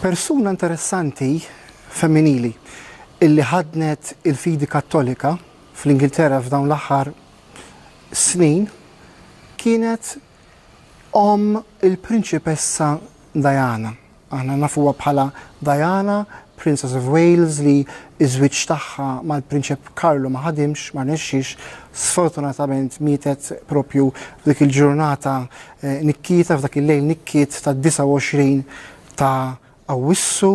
Persuna interessanti femminili illi ħaddnet il-fidi Kattolika fl-Ingilterra f'dawn l-aħħar snin kienet omm il-Prinċipessa Diana. Aħna nafuha bħala Diana, Princess of Wales li ż-żwieġ tagħha mal-Prinċep Karlu ma ħadimx, ma rnexxiex, sfortunatament mietet propju f'dik il-ġurnata nikkieta f'dak il-lejl nikkiet tad-29 ta' Awwissu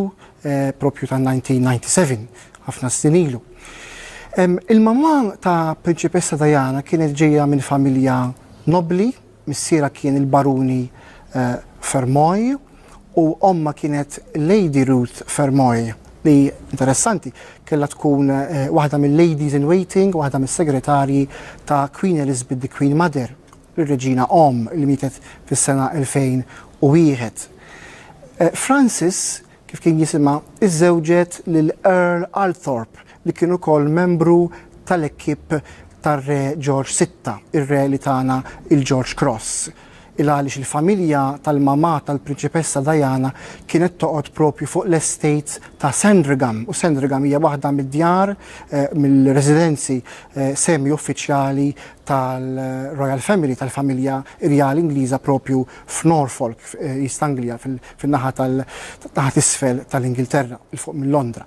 proprju tan-1997, ħafna snin ilu. Il-mamà ta' Prinċipessa Diana kienet ġejja minn familja nobbli, missierha kien il-Baruni Fermoy u ommha kienet Lady Ruth Fermoy li, interessanti, kellha tkun waħda mil-ladies in waiting, waħda mis-segretarji ta' Queen Elizabeth the Queen Mother. ir-Reġina Omm li mietet fis-sena 2001. Francis, kif kien jisimha, iżżewġet lil Earl Althorp li kien ukoll membru tal-ekipp tar-Re Ġorġ Sitta, ir-Re li tana il-Ġorġ Cross. Il-għaliex il-familja tal-mamà tal-Prinċipessa Diana kienet toqgħod propju fuq l-estate ta' Sandringham u Sandringham hija waħda mid-djar, mill-residenzi semi-uffiċjali tal-Royal Family, tal-familja irjali Ingliża proprju f'Norfolk, f'East Anglia, fin-naħa tal-naħa t'isfel tal-Ingilterra, 'il fuq minn Londra.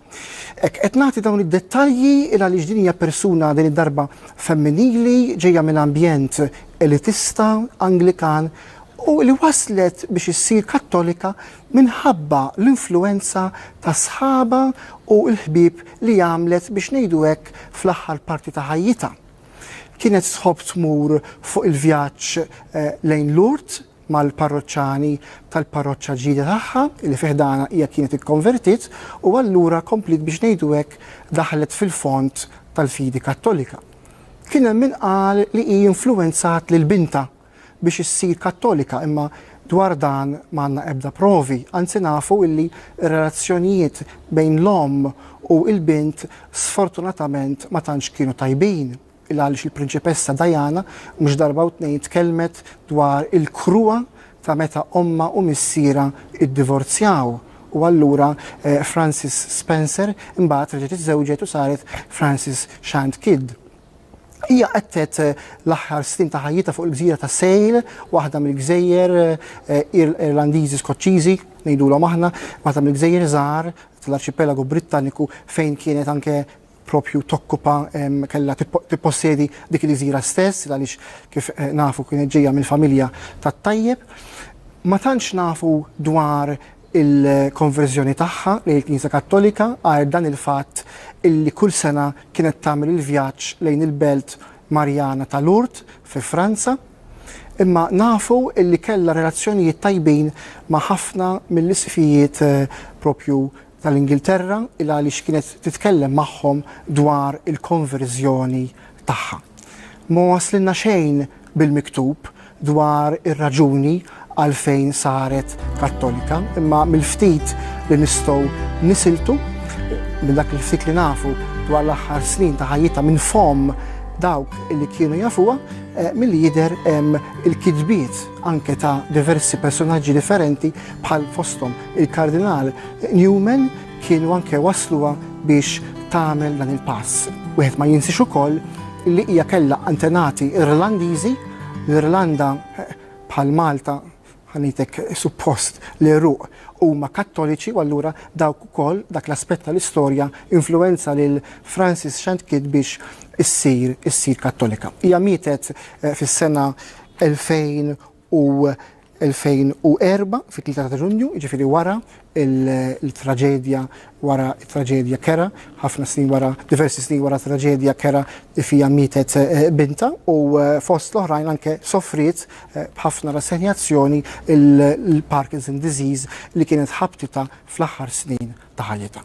Hekk, qed nagħti dawn id-dettalji il għaliex din hija persuna din id-darba femminili, ġejja minn ambjent elitista, Anglikan, u li waslet biex issir Kattolika minħabba l-influwenza ta' sħabha u l-ħbieb li għamlet biex ngħidu hekk fl-aħħar parti ta' ħajjitha. Kienet tħobb tmur fuq il-vjaġġ lejn Lourdes mal-parroċċani tal-parroċċa ġdida tagħha li fi ħdanha hija kienet ikkonvertiet u allura kompliet biex ngħidu hekk daħlet fil-fond tal-fidi Kattolika. Kien hemm min qal li hi influwenzat lil bintha biex issir Kattolika imma dwar dan ma għandna ebda provi, anzi nafu illi r-relazzjonijiet bejn l-omm u l-bint sfortunatament ma tantx kienu tajbin, il-għaliex il-Prinċipessa Diana mhux darba u tnejn tkellmet dwar il-kruha ta' meta ommha u missierha iddivorzjaw u allura Francis Spencer imbagħad reġgħet iżżewġet u saret Francis Shand Kidd. Hija qettet l-aħħar snin ta' ħajjitha fuq il-gżira ta' Sale, waħda mill-gżejjer Irlandiżi-Skoċċiżi, ngħidulhom aħna, waħda mill-gżejjer żgħar tal-arċipelagu Brittaniku fejn kienet anke propju tokkupa, kellha tippossedi dik il-gżira stess, għaliex kif nafu kienet ġejja mill-familja tat-tajjeb. Ma tantx nafu dwar il-konverżjoni tagħha lejn il-Knisja Kattolika għajr dan il-fatt illi kull sena kienet tagħmel il-vjaġġ lejn il-belt Marjana ta' Lourdes fi Franza. Imma nafu illi kellha relazzjonijiet tajbin ma' ħafna mill-Isqfijiet propju tal-Ingilterra il għaliex kienet titkellem magħhom dwar il-konverżjoni tagħha. Ma waslilna xejn bil-miktub dwar ir-raġuni għalfejn saret Kattolika, imma mill-ftit li nistgħu nisiltu, minn dak il-ftit li nafu dwar l-aħħar snin ta' ħajjitha minn fomm dawk li kienu jafuha, milli jidher hemm il-kitbiet anke ta' diversi personaġġi differenti bħal fosthom il-Kardinal Newman, kienu anke wassluha biex tagħmel dan il-pass. Wieħed ma jinsiex ukoll li hija kellha antenati Irlandiżi, l-Irlanda bħal Malta ħanitek suppost li ruq huma kattoliċi u allura dawk ukoll dak l-aspett tal-istorja influenza lil Francis Shantkid biex issir issir kattolika. Hija mietet eh, fis-sena 2000 u 2004 fit-tlieta ta' Ġunju, jiġifieri wara l-traġedja, wara t-traġedja kera, ħafna snin wara, diversi snin wara traġedja kera li fiha mietet bintha u fost l-oħrajn anke sofriet b'ħafna rassenjazzjoni l-Parkinson disease li kienet ħabtitha fl-aħħar snin ta' ħajjitha.